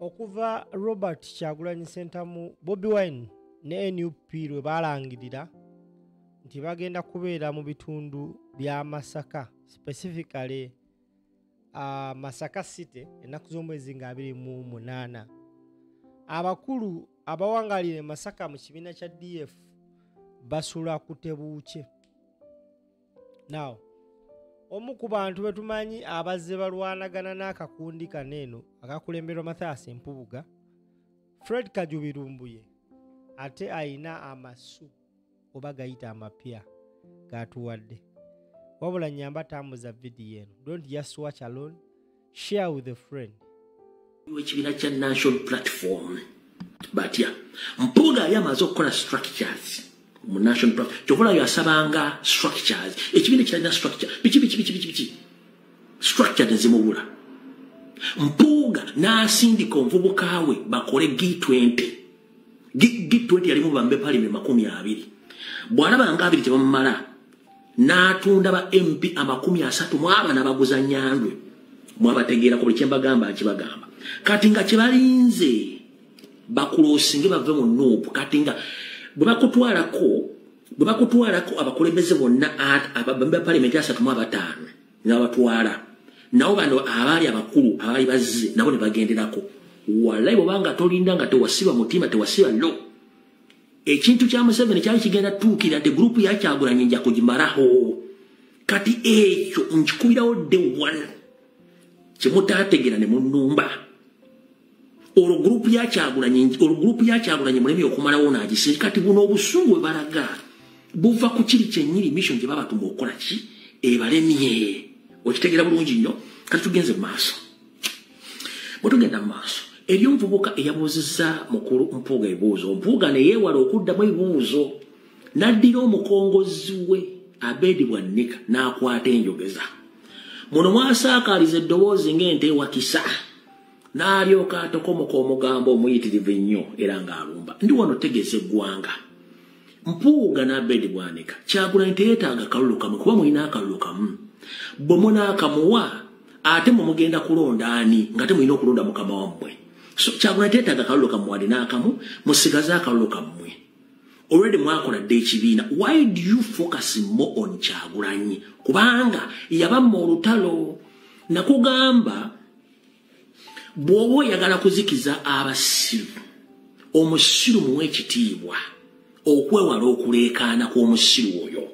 okuva robert kyagulanyi sentamu bobi wine ne nup lwe balangirira nti bagenda kubeera mu bitundu bya masaka specifically uh, masaka city ennaku z'omwezi nga 28 abakulu abawangalira e masaka mu kibiina kya df basula kutebuukye now omu ku bantu betumanyi abazze balwanagana n'akakundi kano eno akakulemberwa mathias empubuga fred kajubirumbuye ate ayina amasu oba gayita amapya gatuwadde wabula nyamba tambuza vidiyo eno don't just watch alone share with a friend ekibiina kya national platform batya mpuuga yali amaze okukola structures mu national platform kyokola yasabanga structures ekibiina ekiralina structure biki biki biki biki biki structure nezimubula mpuuga n'asindika omuvubuka we bakole g20 g20 yalimu bambe palime makumi abiri bw'alaba nga abiri tebamumala n'atunda ba mp amakumi asatu mu abana baguza nyandwe mwabategeerako buli kyembagamba nkibagamba kati nga kyebalinze bakulosinge bave mu nuupu kati nga bwe bakutwalako bwe bakutwalako abakulembeze bonna abambi ba palimenti asatu mu abataano nabatwala nabo bano abaali abakulu abaali bazze nabo ne bagenderako walayi bwobanga tolinda nga tewasiba mutima tewasiba lo no. ekintu kya museveni kyali kigenda tuukira de gurupu yakyagulanye nja kugimaraho kati ekyo nkikubirawo de one kimutategera ne munumba olwo gurupu yakyagulanye olwo gurupu yakyagulanye mulemi okumalawo nagise kati buno obusungu bwe balaga buva ku kiri kyenyini mission gye babatuma okukola ki ebalemye okitegera bulungi nnyo kati tugenze mu maaso bwetugenda mu maaso eri omuvubuka eyabuuzizza mukulu mpuuga ebibuuzo mpuuga neyeewala okuddamu ebibuuzo n'addira omukongozi we abeedi bwa nnika n'akwata enjogeza muno mwasaakaaliza eddoboozi ng'ente ewakisa n'alyoka atokomoka omugambo omuyitirivu ennyo era ng'alumba ndi wano tegeeza eggwanga mpuuga n'abedi bwanika kyagulanyi teyetaaga kalulu kamu kuba mulina akalulu kamu bwe munaakamuwa ate mwe mugenda kulonda ani nga te mulina okulonda mukama wammwe so kyagulanyi teyetaaga kalulu kamu wali n'akamu musigaze akalulu kammwe already mwakola dde ekibiina why do you focus more on kyagulanyi kubanga yabamma olutalo nakugamba bw'oba oyagala kuzikiza abasiru omusiru muwa ekitiibwa okwewala okuleekaana kw'omusiru oyo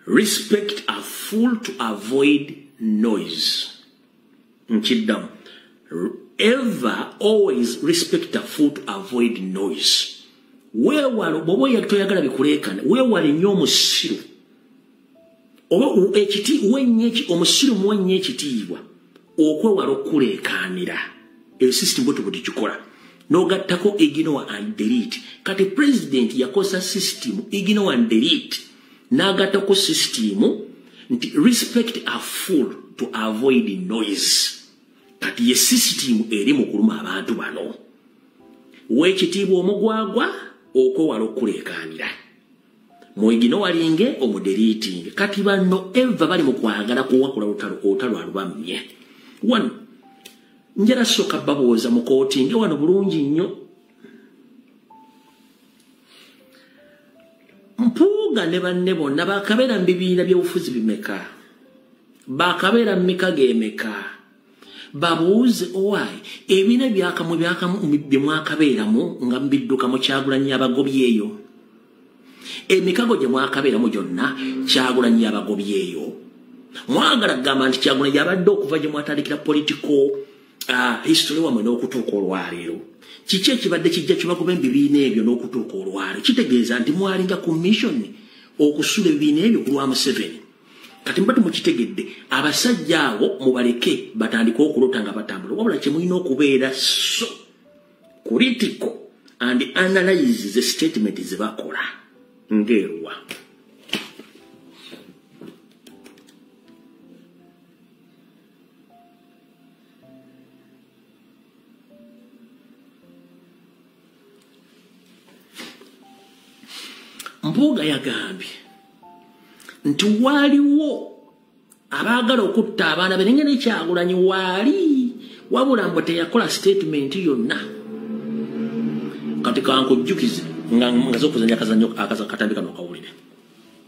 respect a fool to avoid noise nkiddamu ever always respect a fool to avoid noise weewala bw'oba oyagala bikuleekaana weewale nnyo omusiru oba ekiti wenyeki omusirimu wenye ekitiibwa okwewala okuleekaanira eyo system bwetu bwe tukikola n'ogattako ignowa and delete kati president yakozesa system ignowa and delete n'agattako system nti respect a full to avoid noise kati ye system eri mu kuluma abantu bano w'ekitiibwa omugwagwa okwewala okuleekaanira mwegino walinge omuderiitinge kati banno eva bali mu kwagala kuwakula lutalo olutalo alubammye wano njala soka babuuza mu kooti nge wano bulungi nnyo mpuuga ne banne bonna bakabeera mu bibiina byobufuzi bimeka bakabeera mu mika g'emeka babuuze owaayi ebina byakamu byakamu byemwakabeeramu nga mbidduka mu kyagulanyi yabagobyeeyo emikago gye mwakabeeramu gyonna kyagulanyi yabagobyeeyo mwagala kugamba nti kyagulanyi yabadde okuva gye mwatandikira politiko ah, history wamwe n'okutuuka olwaleero kiki ekibadde kijja kibagoba ebibiina ebyo n'okutuuka olwaleero kitegeeza nti mwalinga ku mission okusula ebibiina ebyo ku lwa museveni kati mbadde mukitegedde abasajja awo mubaleke batandike okulota nga batambula wabula kyemulina okubeera so kuritiko and analyze the statement zebakola ngeeruwa mpuuga yagambye nti waaliwo abaagala okutta abaana be nengeri kyagulanyi waali wabula mbu teyakola sitatimenti yonna kati kankujjukize nga zokuzanya akazanyo akatambi kano kawulire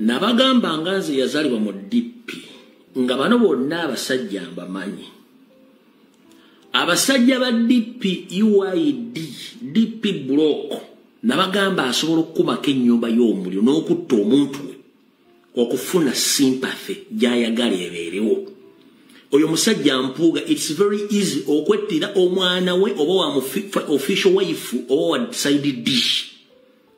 nabagamba nga nze yazalibwa mu dp nga bano bonna abasajja mbamanyi abasajja ba dp uid dp block nabagamba asobola okukumako ennyumba y'omuliro n'okutta omuntu we okufuna sympathy gyayagala ebeerewo oyo musajja mpuuga its very easy okwettira omwana we oba wa official wife oba wa side dish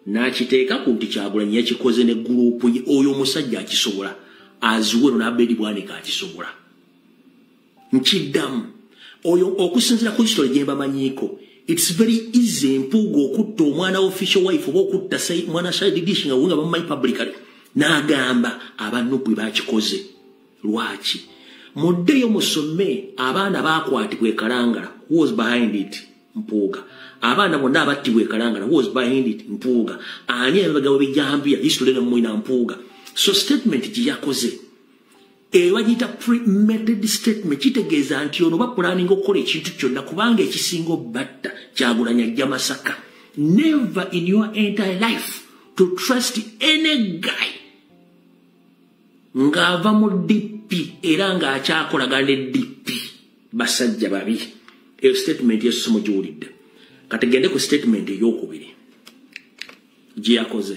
nakiteeka ku nti kyagulanyi yakikoze ne gurupu ye oyo omusajja akisobola aziwero nabedi bwanika akisobola nkiddamu oyo okusinzira ku kisitole gye mbamanyiiko its very easy empuuga okutta omwana official wife oba okutta mwana sadidishi nga wenga bamumanyi publicly n'agamba abanupu bakikoze lwaki muddeyo musome abaana bakwatibwa ekalangala was behind it mpuuga abaana bonna abattibwa ekalangala was behind it mpuuga ani emabega webijambiya history ne mwina mpuuga so statement gye yakoze eyo bagiyita premeded statement kitegeeza nti ono bapulaninga okukola ekintu kyonna kubanga ekisinga obatta kyagulanya ajja masaka never in your entire life to trust any guy ng'ava mu dp era ng'akyakolagana ne dp basajja babi eyo statement yesu mugiwulidde kati gende ku statement eyokubiri gye yakoze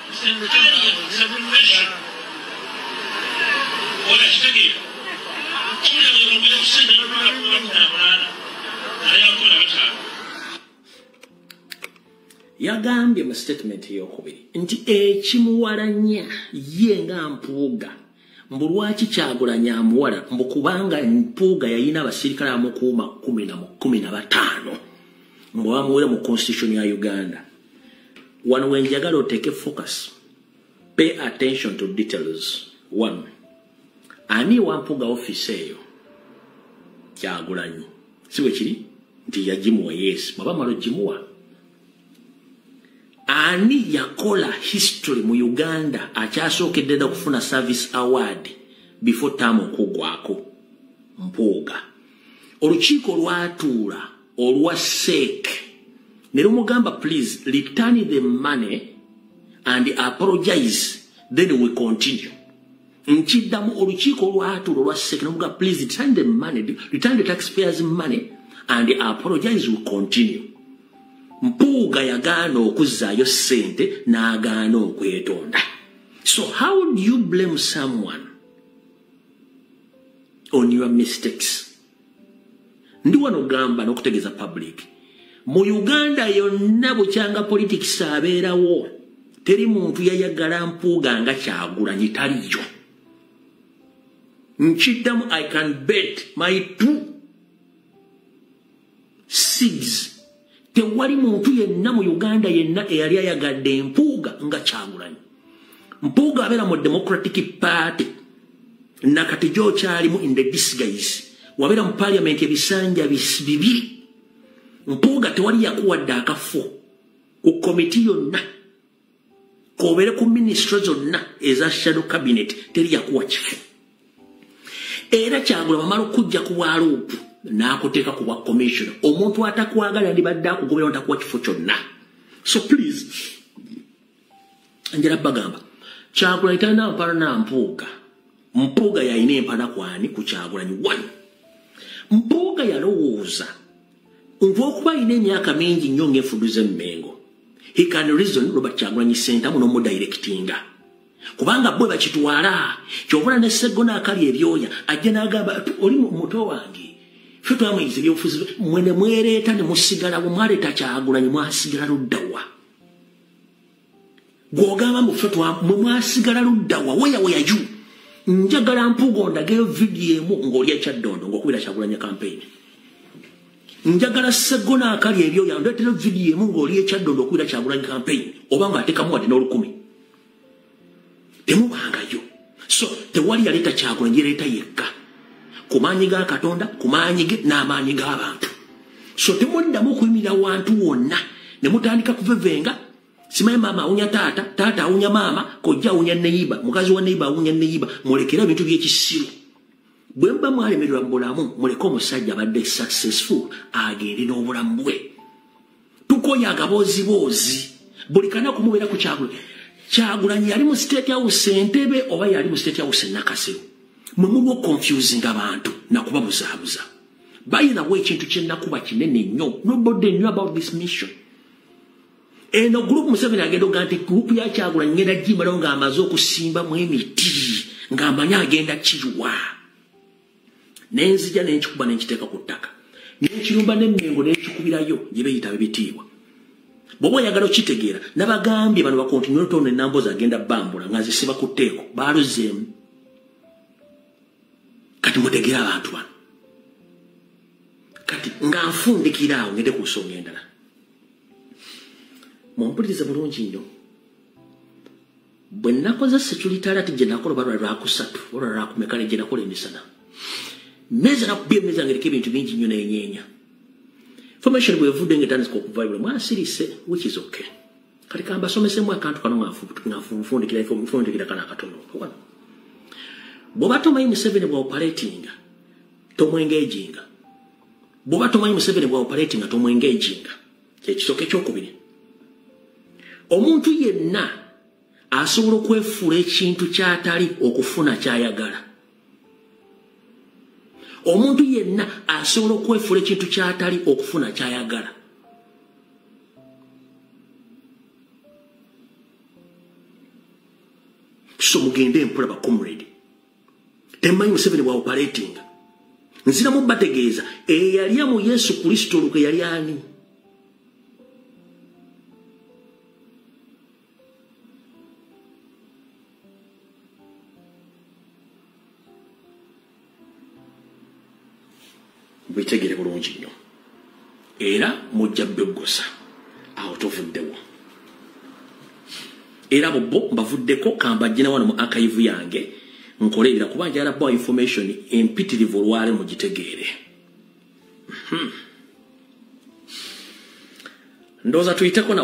yagambye mu sitatimenti eyokubiri nti ekimuwalanya ye nga mpuuga mbu lwaki kyagulanyi amuwala mbu kubanga mpuuga yayina abasirikale amukuuma kumi na kumi na bataano mbu bamuwere mu constitution ya uganda wano wenjagala oteeke focus pay attention to details one ani wampuuga office eyo kyagulanyi si bwe kiri nti yagimuwa yes bwaba malo gimuwa ani yakola history mu uganda akyasookedde dda okufuna service award before tam okugwako mpuuga olukiiko lwatuula olwa seek ne lumugamba please return the money and apologize then we continue nkiddamu olukiiko olwatuula olwa seek nemuga please return the money return the taxpayers money and apologize we continue mpuuga yagaana okuzzaayo ssente n'agaana okwetonda so how do you blame someone on your mistakes ndi wano gamba n'okutegeeza public mu uganda yonna bukyanga politics abeerawo teri muntu yayagala mpuuga nga kyagulanyi taliyo nkiddamu i can bet my two seeds tewali muntu yenna mu uganda yenna eyali ayagadde empuuga nga kyagulanyi mpuuga abeera mu democratic party nakati gyokyalimu in the disguise wabeera mu parliament ebisanja bibiri mpuuga tewali yakuwadde akafo ku komiti yonna kobeere ku minisitule zonna eza shadow cabinet teri yakuwa kifo era kyagula bamala okujja ku bwaluupu n'akuteeka ku bwa commissioner omuntu atakwagala ndibadde akugobera ntakuwa kifo kyonna so please njala bagamba kyagulanyi talina mpala na mpuuga mpuuga yalina empala kwani ku kyagulanyi one mpuuga yalowooza olwokuba alina emyaka mingi nnyo ngaefudu zemmengo he can reason robert kyagulanyi sentamu nomudirectinga kubanga bwe bakitwala kyobula ne segona akali ebyoya ajja nagamba oli muto wange fe twamuyinza ebyobufuzi mwe ne mwereeta ne musigalawo mwaleeta kyagulanyi mwasigala luddawa gwogamba mufe mwe mwasigala luddawa weya weya ju njagala mpuga ondageyo vidiyo emu ng'olya kyaddondo ng'okubira kyakulanya kampeyini njagala segona akali ebyo yandeetera vidiyo emu ng'olya ekyaddondo okubira kyakulanya kampeyini oba ng'atekamu wadde n'olukumi temubangayo so tewali yaleeta kyagulanyi yaleeta yekka ku maanyi ga katonda ku maanyi ge n'amaanyi g'abantu so temuddamu okuyimirira wantu wonna ne mutandika kuvevenga simanyi maama awunya taata taata awunya maama kojja awunya neyiba mukazi wa neyiba awunya neyiba mulekere ebintu by'ekisiru bwe muba mwalemererwa mu bulamu muleke omusajja abadde successful agende n'obulamu bwe tukoye agabooziboozi buli kanaku mubeera ku kyagula kyagulanyi yali mu state house entebe oba yali mu state house enakasero mwe muliwo okonfusing abantu nakuba buzaabuza bayinawo ekintu kyenakuba kinene nnyo nobody knew about this mission eno gurupu museveni agenda oga nti gurupu yakyagulanyi ngenda gimalawo ng'amaze okusimbamu emiti ng'amanyi agenda kiwa nenzija nenkikuba nenkiteeka ku ttaka nekirumba nemengo nekikubirayo gyebeyita bebitiibwa bwoba oyagala okitegeera nabagambye bano bakontinotone nambozi agenda bambula nga zisiba ku tteeko baaluzeemu kati mutegere abantu bano kati nga nfundikira awo ngende ku nsonga endala mumpulirize bulungi nnyo bwe nakoze security alert gye nakola oba lwakusatu olwa lwakumekale gye nakola emisana meza nakuba emeza ngereka ebintu bingi nnyo nenyeenya formation bwevudde nga etandika okuvayibula mwasirise which is okay kati kambasomesemu akantu kano ngafunfundikira kana akatono bwoba tomanyi museveni bwaoperatinga tomwengeejinga bwoba tomanyi museveni bwaoperatinga tomwengeejinga kyekisooka ekyokubiri omuntu yenna asobola okwefuula ekintu kyatali okufuna kyayagala omuntu yenna asobola okwefuula ekintu kyatali okufuna kyayagala so mugende mpola bacomrade temanyi museveni bwa operatinga nziramu bategeeza eyalya mu yesu kristo olukwe yali ani bwetegere bulungi nnyo era mujja beggosa awo tovuddewo era bubbo mbavuddeko kambajjina wano mu akayivu yange nkole ebira kuba njala bwa information empitirivu olwale mugitegeere hmm. ndoza tuiteko na